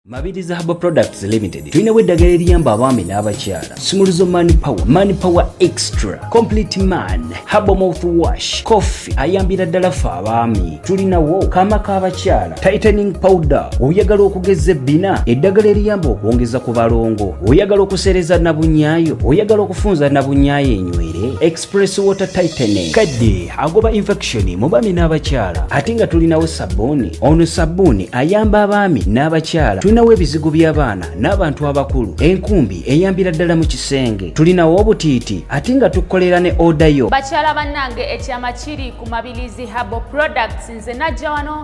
Mabiriza Herbal Products Limited tulinawo eddagala eriyamba abaami n'abakyala sumuluzo man power man power extra complete man herbal mouth wash coffee ayambira ddala ffe abaami tulinawo kaama k'abakyala tightening powder oyagala okugeza ebbina eddagala eriyamba okwongeza ku balongo oyagala okusereza nabunyaayo oyagala okufunza nabunyaayo enywere Press water tightening kadde agoba infection mu baami n'abakyala ate nga tulinawo sabbuuni ono sabbuuni ayamba abaami n'abakyala tulinawo ebizigo by'abaana n'abantu abakulu enkumbi eyambira ddala mu kisenge tulinawo obutiiti ate nga tukukolera ne oda yo bakyala bannange ekyama kiri ku mabilizi habo products nze najja wano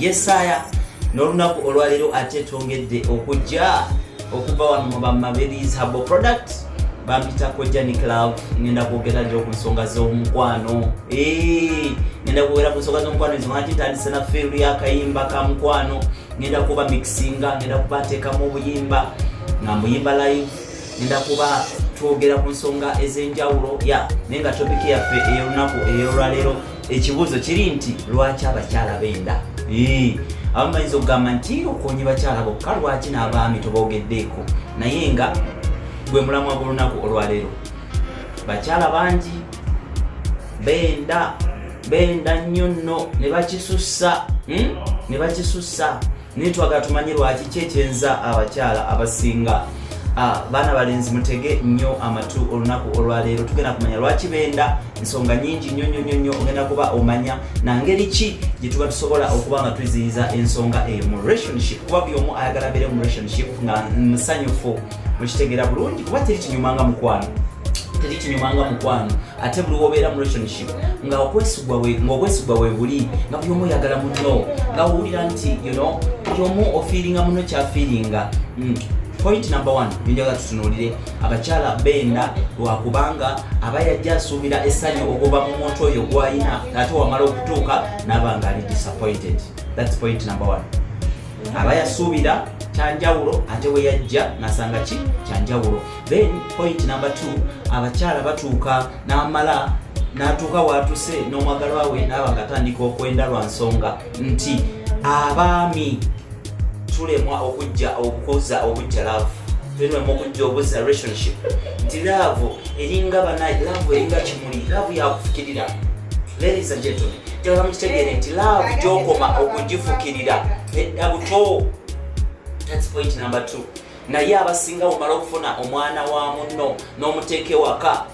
yesaya n'olunaku olwaleero ate twongedde okujja okuva wano mu bamabelies habo product bampita kojja niclav ngenda kwogera nyo ku nsonga z'omukwano ngenda kwogera ku nsonga z'omukwano ezo ngati ntandise na field yakayimba ka mukwano ngenda kuba mixinga ngenda kubateekamu obuyimba nga mbuyimba live ngenda kuba twogera ku nsonga ez'enjawulo ya naye nga topiki yaffe ey'olunaku ey'olwaleero ekibuuzo kiri nti lwaki abakyala benda abamu bayinza okugamba nti okonye bakyala bokka lwaki n'abaami tobogeddeeko naye nga gwe mulamwa gw'olunaku olwaleero bakyala bangi benda benda nnyo nno ne bakisussa hmm? ne bakisussa naye twagala tumanye lwaki ki ekyenza abakyala abasinga ah, baana balenzi mutege nnyo amatu olunaku olwaleero tugenda kumanya lwaki benda ensonga nyingi nnyo nnyo nnyo nnyo ogenda kuba omanya nangeri ki gye tuba tusobola okuba nga tuziyiza ensonga eyo mu relationship kuba buli omu ayagala beere mu relationship nga musanyufu mukitegera bulungi kuba teri kinyuma nga mukwano teri kinyuma nga mukwano ate buli wobeera mu relationship nga okwesigwa webuli nga buli omu oyagala muno nga owulira nti yono buli omu ofiiringa muno kyafiiringa hmm. point number one byenjaga tutunulire abakyala benda lwakubanga aba yajja asuubira essanyu okuva mu muntu oyo gwalina ate wamala okutuuka naba nga ali disappointed thats point number one aba yasuubira kyanjawulo ate we yajja nasanga ki kyanjawulo then point number t abakyala batuuka n'amala n'atuuka waatuse n'omwagalwa we naaba nga atandika okwenda lwa nsonga nti abaami tulemwa okujja okukoza okujja laavu tulemwa okujja obuzza relationship nti laavu eringa banaye laavu eringa kimuli laavu yakufukirira ladies and gentlemen njagala mukitegere nti laavu gyokoma okugifukirira edda buto thats point number two naye abasinga bumala okufuna omwana wa munno n'omuteeka ewaka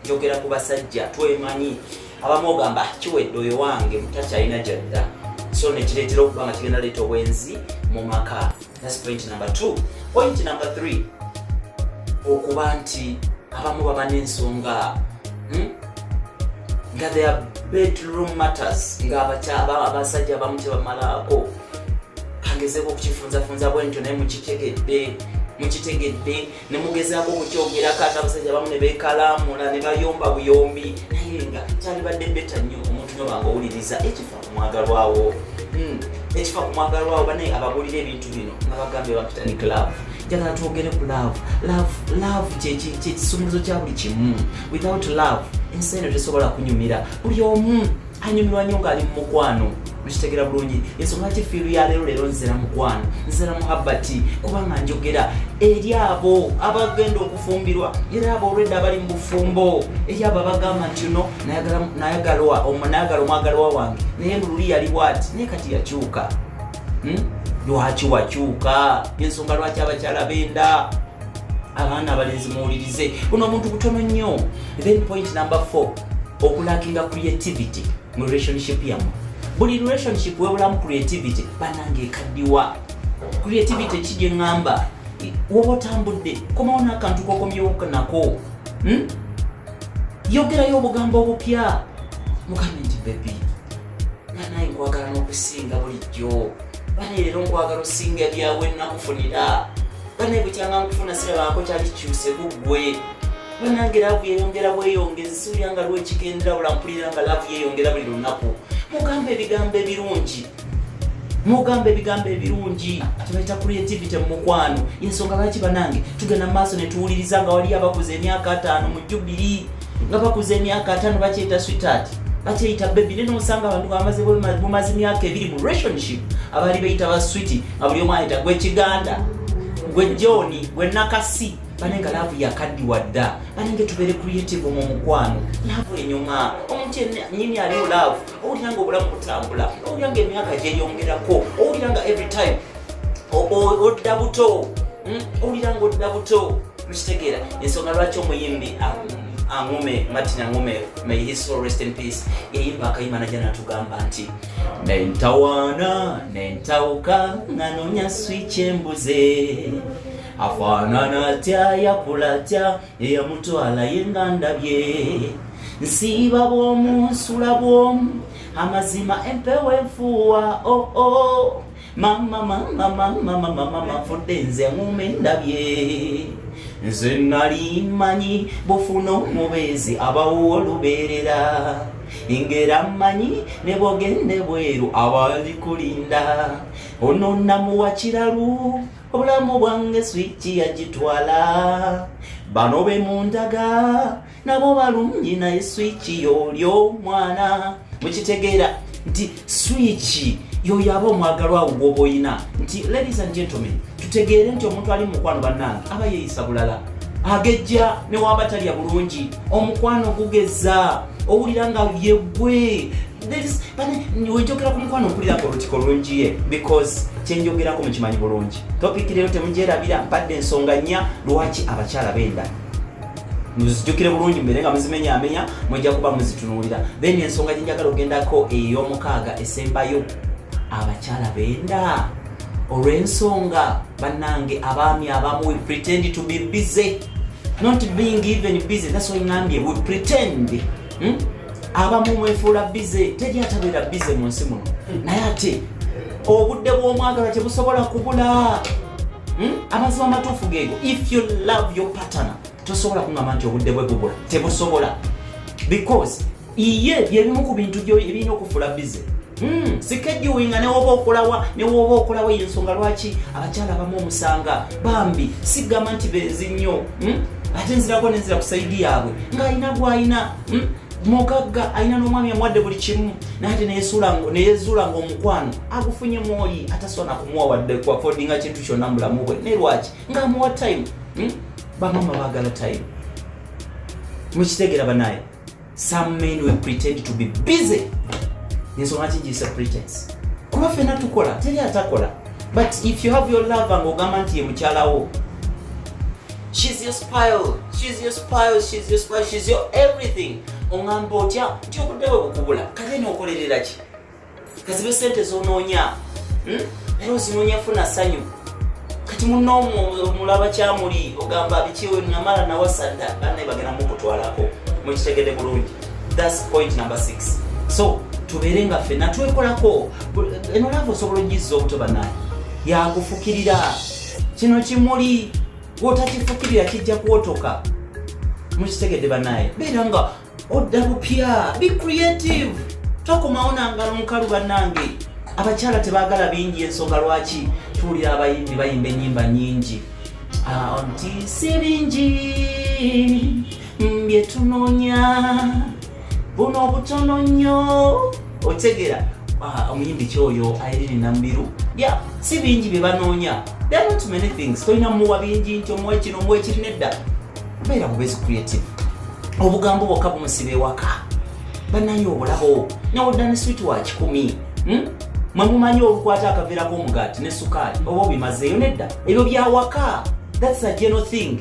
njogera ku basajja twemanyi abamu ogamba kiwedde oyo wange mutakyalina gyadda so nekireetera okuba nga kigenda leeta obwenzi mu maka That's point number two. Point number three, okuba nti abamu baba n'ensonga hmm? nga they are bedroom matters nga abasajja abamu tebamalaako kangezeeko okukifunzafunza bwentyo naye mukitegedde mukitegedde ne mugezaako okukyogerako ate abasajja abamu ne beekalaamula ne bayomba buyombi naye nga kyalibadde beta nnyo omuntu nyo banga owuliriza ekifa ku mwagalwawo hmm, ekifa ku mwagalwawo banaye abagulira ebintu bino nga bagambye bakitani club njagala twogere ku love love love kyekisumuluzo kya buli kimu without love ensi eno tesobola kunyumira buli omu anyumirwa nnyo ng'ali mu mukwano mukitegera bulungi ensonga ki fiiru ya leero leero nzera mukwano nzera muhabbati kubanga njogera eri abo abagenda okufumbirwa era abo olwedda abali mu bufumbo eri abo abagamba nti uno nayagalwa omunayagala omwagalwa wange naye mululi yali bwati naye kati yakyuka hmm? lwaki wakyuka ensonga lwaki abakyala benda abaana abalenzi muwulirize buno omuntu butono nnyo then point number 4 okulakinga creativity mu relationship yamu buli relationship webulamu creativity banange ekaddiwa creativity ki gye ŋŋamba woba otambudde komawo n'akantu kokomyewoka nako hmm? yogerayo obugambo obupya mukame nti bebi nanaye nkwagala n'okusinga bulijjo bane leero nkwagala osinga lyawe nakufunira bane bukyanga nkufuna sirabaako kyali kikyuse kuggwe banange laavu yeyongera bweyongezi siwulira nga lwekigendera bulampulira nga laavu yeyongera buli lunaku mugamba ebigambo ebirungi mugamba ebigambo ebirungi kibaita creativity mumukwano yensonga lwaki banange tugenda mu maaso netuwuliriza nga waliyo abakuza emyaka ataano mu jubiri nga bakuza emyaka ataano bakyeyita sweetheart bakyeyita bebi naye nosanga abantu bamaze bumaze myaka ebiri mu relationship abaali beyita ba switi nga buli omu ayita gwe kiganda gwe joni gwe nakasi bane nga laavu yakaddiwa dda bane nga tubeere creative mu mukwano laavu enyuma omuntu nyini aliwo laavu owulira nga obulamu butambula owulira nga emyaka gyeyongerako owulira nga every time odda buto hmm? owulira nga odda buto mukitegeera ensonga lwaki omuyimbi aŋume martin aŋume may his soul rest in peace yayimba akayimba naja natugamba nti nentawaana nentawuka nga nonya switch embuze afaanana atya yakula atya eyamutwala ye nga ndabye nsiiba bwomu nsula bwomu amazima empewo enfuuwa oo oh, oh. mama mama mama mama mama fudde nze ngume ndabye nze nali manyi bufuna omubeezi abawo olubeerera ingera manyi ne bogende bweru abali kulinda ono namuwa kiralu obulamu bwange swiki yagitwala bano be mundaga nabo balungi naye swiiki yoolyo mwana mukitegeera nti swiiki yoyo aba omwagalwa awo gwoba oyina nti ladies and gentlemen tutegeere nti omuntu ali mumukwano bannange aba yeeyisa bulala agejja newaba talya bulungi omukwano gugeza owulira nga yegwe wenjogera ku mukwano mpulirako olutiko lungi ye because kyenjogerako mukimanyi bulungi topiki leero temugyerabira mpadde ensonga nnya lwaki abakyala benda muzijukire bulungi mbere nga muzimenyaamenya mujja kuba muzitunuulira then ensonga gyenjagala ogendako ey'omukaaga esembayo abakyala benda olw'ensonga bannange abaami abamu we pretend to be busy not being even busy that's why ngambye we pretend hmm? abamu mwefuula bize teri atabeera bize mu nsi muno hmm. naye ate obudde bw'omwagala tebusobola kubula hmm? amazima amatuufu geego if you love your patana tosobola kungamba nti obudde bwe bubula tebusobola because iye byebimu ku bintu ebirina okufuula bize Hmm, sikejuwinga newoba okolawa newoba okolawa eyo nsonga lwaki abakyala abamu omusanga bambi sigamba nti benzi nnyo hmm? ate nzirako nenzira ku saidi yaabwe ng'alina gwalina hmm? mugagga alina n'omwami amuwadde buli kimu naate neyezuula ngaomukwano agufunye mwoyi atasobola nakumuwa wadde kuafodinga kintu kyonna mu bulamu bwe naye lwaki ng'amuwa time bamama bagala time mukitegera banaye some men will pretend to be busy ensonga ki giyise pretense kuba fena tukola teri atakola but if you have your love nga ogamba nti ye mukyalawo she's your spile she's your spile she's your spile she's your everything ongamba otya nti obudde bwe bukubula kale nookolerera ki kazibe sente zonoonya hmm? era ozinoonya funa sanyu kati muna omulaba kyamuli ogamba bikiwe namala nawasadda banaye bagenda mukutwalako mukitegede bulungi thats point number six so tubeere nga fena twekolako eno lava osobola ogizza obuto banaye yakufukirira kino kimuli wotakifukirira kijja kuwotoka mukitegede banaye beera nga odda bupya be creative tokomawo nangalo mukalu banange abakyala tebagala bingi ensonga lwaki tuwulira abayimbi bayimba enyimba nyingi ah, nti si bingi byetunonya buno obutono nnyo otegera ah, omuyimbi kyoyo airine nambiru ya si bingi bye banoonya tolina muwa bingi nti omuwa kino omuwa ekiri nedda beera bubezi creative obugambo bwokka bumusiba ewaka banaye obulaho nawodda ne switi wa kikumi hmm? mwe mumanyi olukwata akaveera k'omugaati ne sukaali oba obimazeeyo nedda ebyo byawaka thats a general thing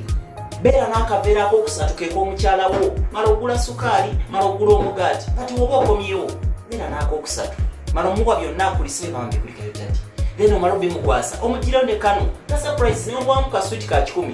beera n'akaveera k'okusatu kek'omukyala wo mala ogula sukaali mala ogula omugaati kati woba okomyewo beera n'akokusatu mala omuwa byonna akulise bambi kulikayo tati then omala obimukwasa omugirayo ne kano ka surprise newagwamu ka switi ka kikumi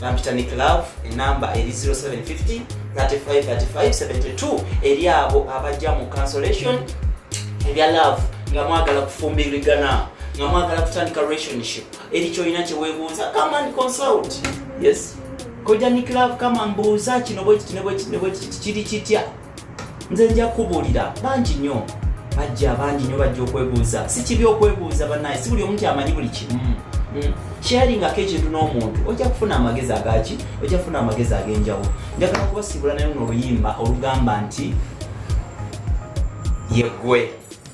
bampita nick love enamba eri 0750 353572 eri abo abajja mu cancellation ebya love nga mwagala kufumbirigana nga mwagala kutandika relationship eri kyolina kyewebuuza come and consult yes koja nick love kama mbuuza kino bwekiti ne bwekiti ne bwekiti kiri kitya nze nja kubuulira bangi nnyo bajja bangi nnyo bajja okwebuuza si kibi okwebuuza banaye si buli omu nti amanyi buli kimu mm. mm. sharingako ekintu n'omuntu ojja kufuna amagezi agaki ojja kufuna amagezi ag'enjawulo njagala kubasiibula nayo n'oluyimba olugamba nti yegwe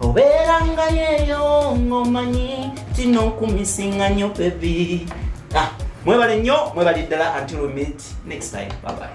obeerangayo eyo ng'omanyi tino nkumisinga nyo bebi ah, mwebale nnyo mwebali ddala until we meet next time babaye